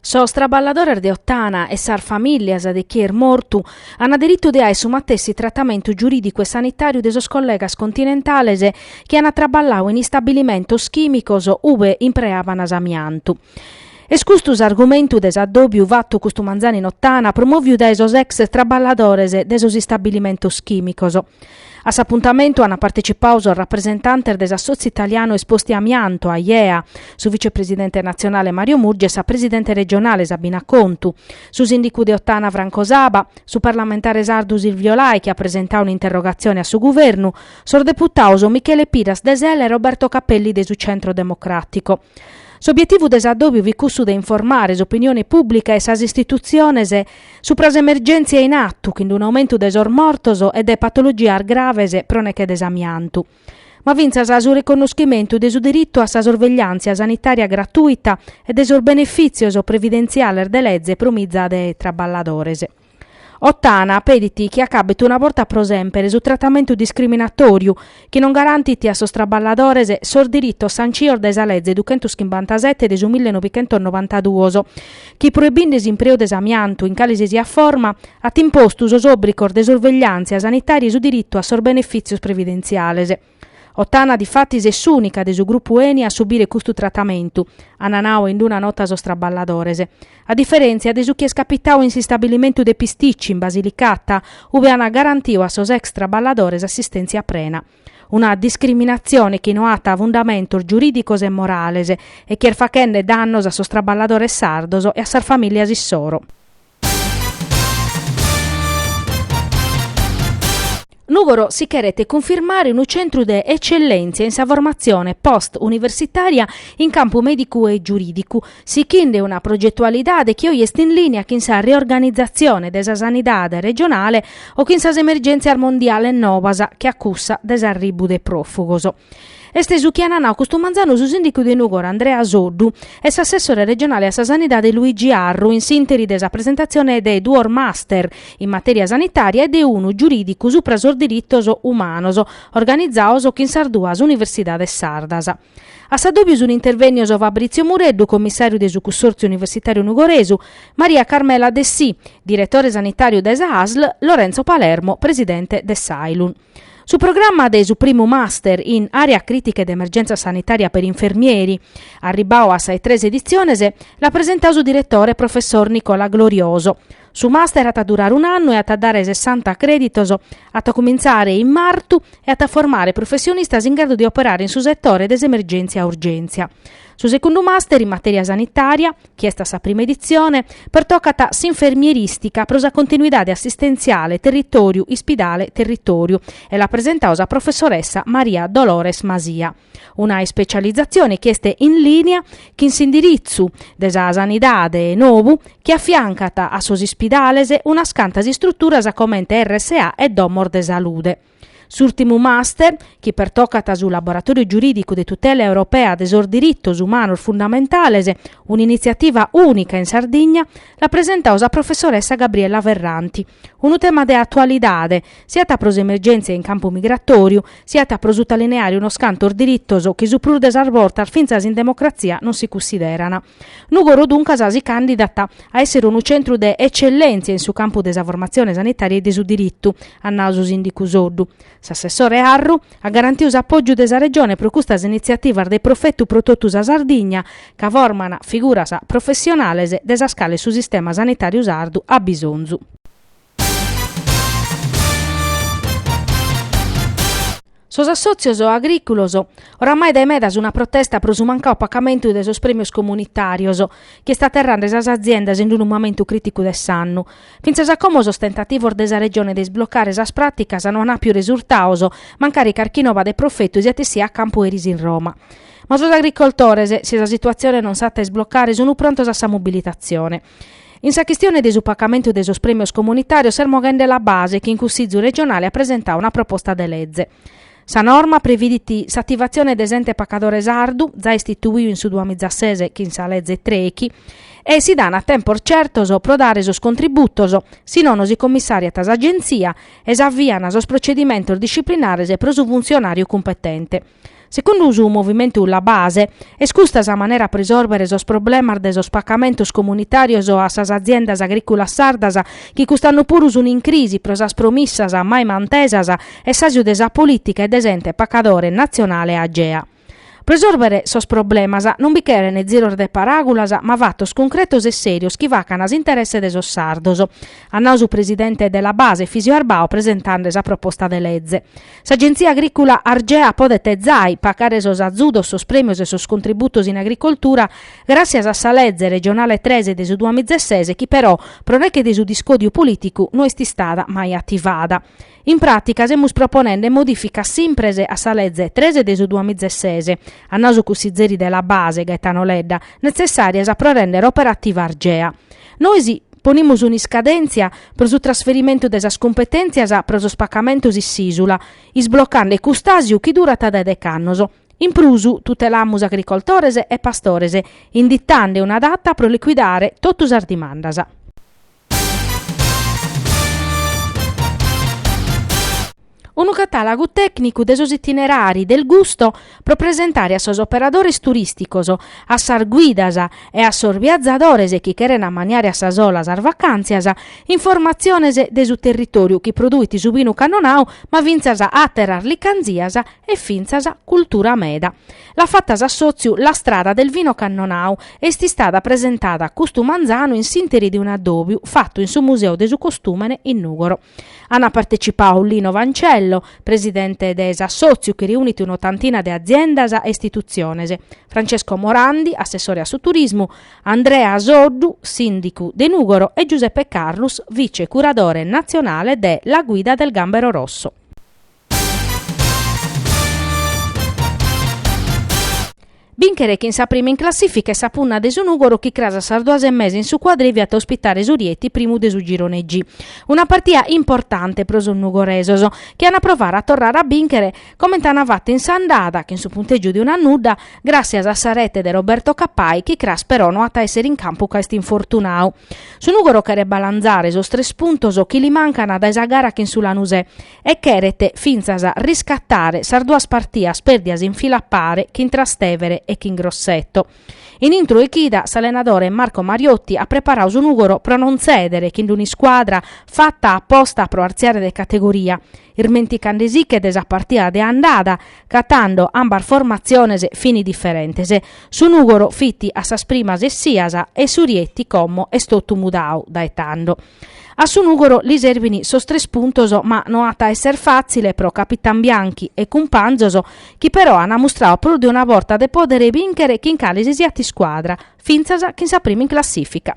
Sos traballadores de Ottana e sas famìllias de chie est mortu ant diritu de aer su matessi tratamentu giurìdicu e sanitàriu de sos collegas continentales chi ant traballau in istabilimentos chìmicos ube impreavana s'amiantu. Est custu s'argumentu de s'addòbiu fatu custu manzanu in Ottana promòviu dae sos ex traballadores de sos istabilimentos chìmicos. A s'apuntamentu ant partecipau sos rapresentantes de s'Assotziu Italianu Esposti Amianto, Aiea, su vicepresidente natzionale Mario Murgia e sa presidente regionale Sabina Contu, su sìndicu de Ottana Franco Saba, su parlamentare sardu Silvio Lai chi at presentau un'interrogatzione a su Guvernu, sos deputaos Michele Piras de Sel e Roberto Cappelli de su Centro Democràtico. S'obietivu de s'addòbiu fit cussu de informare s'opinione pùblica e sas istitutziones supra s'emergèntzia in atu chin d-unu aumentu de sos mortos e de patologias graves pro neche de s'amiantu, ma fintzas su riconnoschimentu de su diritu a sa sorvegliàntzia sanitària gratuita e de sos benefìtzios previdentziales de leze pro miza de traballadores. Ottana pedit chi acabet una borta pro semper su tratamentu discriminatòriu chi non garantit a sos traballadores sos diritos sancios dae sa Leze duchentoschimbantasete de su millenovichentosnovantaduos, chi proibinde s'impreu de s'amiantu in cale si siat forma, at impostu sos òbrigos de sorvegliàntzia sanitària e su diritu a sos benefìtzios previdentziales. Ottana difatis est s'ùnica de su grupu Eni a subire custu tratamentu, ant nau in una nota sos traballadores. A diferèntzia de su chi est capitau in s'istabilimentu de Pisticci, in Basilicata, ube ant garantiu a sos ex traballadores assistèntzia prena. Una discriminatzione chi no at fundamentos giurìdicos e morales e chi est fachende dannos a sos traballadores sardos e a sas famìlias issoro. Nùgoro si cheret cunfirmare unu centru de etzellèntzia in sa formatzione post universitària in campu mèdicu e giurìdicu, sichinde una progetualidade chi oi est in lìnia chin sa reorganizatzione de sa sanidade regionale o chin sas emergèntzias mondiales nobas che a cussa de s'arribu de pròfugos. Est su chi ant nau custu manzanu su sìndicu de Nùgoro Andrea Soddu e s'assessore regionale a sa Sanidade Luigi Arru in s'ìnteri de sa presentatzione de duos master in matèria sanitària e de unu giurìdicu supra sos diritos umanos organizaos chin sas duas universidades sardas. A s'addòbiu sunt intervènnios Fabrizio Mureddu, commissàriu de su Cussòrtziu Universitàriu Nugoresu, Maria Carmela Dessì, diretore sanitàriu de sa ASL, Lorenzo Palermo, presidente de s'Ailun. Su programma de su primu Master in Area Critica ed Emergenza Sanitaria per Infermieri, arribbau a sas tres editziones, l'at presentau su diretore professor Nicola Glorioso. Su Master at a durare un'annu e at a dare sessanta crèditos, at a cumintzare in martu e at a formare professionistas in gradu de operare in su setore de s'emergèntzia-urgèntzia. Su secundu Master in Matèria Sanitària, chi est a sa prima editzione, pertocat s'infermieristica pro sa continuidade assistentziale Territòriu Ispidale Territòriu e l'at presentau sa professoressa Maria Dolores Masia. Una ispecializatzione chi est in lìnia chin s'indiritzu de sa sanidade novu chi afiancat a sos ispidales unas cantas istruturas comente RSA e domos de salude. S'ùltimu master, chi pertocat su Laboratòriu Giurìdicu de Tutela Europea de sos Diritos Umanos Fundamentales, un'initziativa ùnica in Sardigna, l'at presentau sa professoressa Gabriella Ferranti. Unu tema de atualidade, siat pro s'emergèntzia in campu migratòriu, siat pro sutalineare unos cantos diritos chi su prus de sas bortas fintzas in democratzia non si cunsìderan. Nùgoro duncas si càndidat a èssere unu centru de etzellèntzia in su campu de sa formatzione sanitària e de su diritu, at nau su sìndicu Soddu. S'assessore Arru at garantiu s'apògiu de sa Regione pro custas initziativas de profetu pro totu sa Sardigna, ca forman figuras professionales de sas cales su sistema sanitàriu sardu at bisonzu. Sos assòtzios agrìculos, oramai dae meda sun a protesta pro su mancau pacamentu de sos prèmios comunitàrios, chi est aterrande sas aziendas in unu mamentu crìticu de s'annu. Fintzas a como sos tentativos de sa Regione de isblocare sas pràticas no an àpiu resurtaos, mancari carchi nova de profetu siat essia a campu eris in Roma. Ma sos agricoltores, si sa situatzione non s'at a isblocare, sun prontos a sa mobilitatzione. In sa chistione de su pacamentu de sos prèmios comunitàrios s'est moghende La Base chi in Cussizu regionale at presentau una proposta de leze. Sa norma previdit s'ativatzione de s'ente pacadore sardu, zai istituiu in su duamizasese chin sa leze trechi, e si dan tempos certos pro dare sos contributos, si nono si commissàriat s'Agenzia e s'avian sos procedimentos disciplinares pro su funtzionàriu cumpetente. Secundu su movimentu La Base, est custa sa manera pro isòrbere sos problemas de sos pacamentos comunitàrios a sas aziendas agrìculas sardas chi cust'annu puru sun in crisi pro sas promissas mai mantesas e s'àsiu de sa polìtica e de s'ente pacadore natzionale Agea. Pro isòrbere sos problemas non bi cheren ziros de paràgulas ma fatos concretos e sèrios chi facan a s'interesse de sos sardos, at nau su presidente de La Base Efisio Arbau presentande sa proposta de leze. S'Agenzia Agrìcula Argea podet zai pagare sos azudos, sos prèmios e sos contributos in agricoltura gràtzias a sa leze regionale tres de su duamiza e ses chi però, pro neghe de su discòdiu polìticu, no est istada mai ativada. In pràtica semus proponende modìficas simpres a sa leze tres de su duamiza e ses, at nau su cussizeri de La Base, Gaetano Ledda, netzessàrias pro rèndere operativa Argea. Nois ponimus un'iscadèntzia pro su trasferimentu de sas cumpetèntzias pro sos pacamentos in s'ìsula, isblocande cust'àsiu chi durat dae deghe annos. In prus, tutelamus agricoltores e pastores, inditande una data pro licuidare totu sas dimandas. Unu catàlagu tècnicu de sos itinerari del gusto pro presentare a sos operadores turìsticos, a sas guidas e a sos viazadores chi cheren ammaniare a sa sola sas vacàntzias, informatziones de su territòriu chi produit su vinu cannonau ma fintzas àteras licantzias e fintzas cultura meda. L'at fata s'assòtziu La Strada del Vino Cannonau e est istada presentada custu manzanu in s'ìnteri de un'addòbiu fatu in su Museu de su Costùmene in Nùgoro. Ant partecipau Lino Vancello, presidente de s'assòtziu chi reunit un'otantina de aziendas e istitutziones, Francesco Morandi, assessore a su turismu, Andrea Soddu, sìndicu de Nùgoro e Giuseppe Carrus, vice curadore natzionale de La Guida del Gambero Rosso. Bìnchere chin sa prima in classìfica est sa punna de su Nùgoro chi cras a sas duas e mesa in su Quadrìviu at a ospitare su Rieti, primu de su girone G. Una partida importante pro sos nugoresos, chi an a provare a torrare a bìnchere comente an fatu in s'andada, chin su puntègiu de unu a nudda, gràssias a sa rete de Roberto Cappai chi cras però no at a èssere in campu ca est infortunau. Su Nùgoro cheret balanzare sos tres puntos chi li mancant dae sa gara chin su Lanusè, e cheret fintzas riscatare sas duas partias pèrdias in fila a pare chin Trastevere e chin Grosseto. In intro 'e chida s'allenadore Marco Mariotti at preparau su Nùgoro pro non tzèdere chin un'iscuadra fata a posta pro artziare de categoria, irmenticande·si·che de sa partia de andada ca tando ambas formatziones fini diferentes. Su Nùgoro fit a sas primas essias e su Rieti como est totu mudau dae tando. A su Nùgoro li serbint sos tres puntos ma no at a èssere fàtzile pro capitan Bianchi e cumpanzos chi però ant mustrau prus de una borta de pòdere bìnchere chin cale si siat iscuadra, fintzas chin sa prima in classìfica.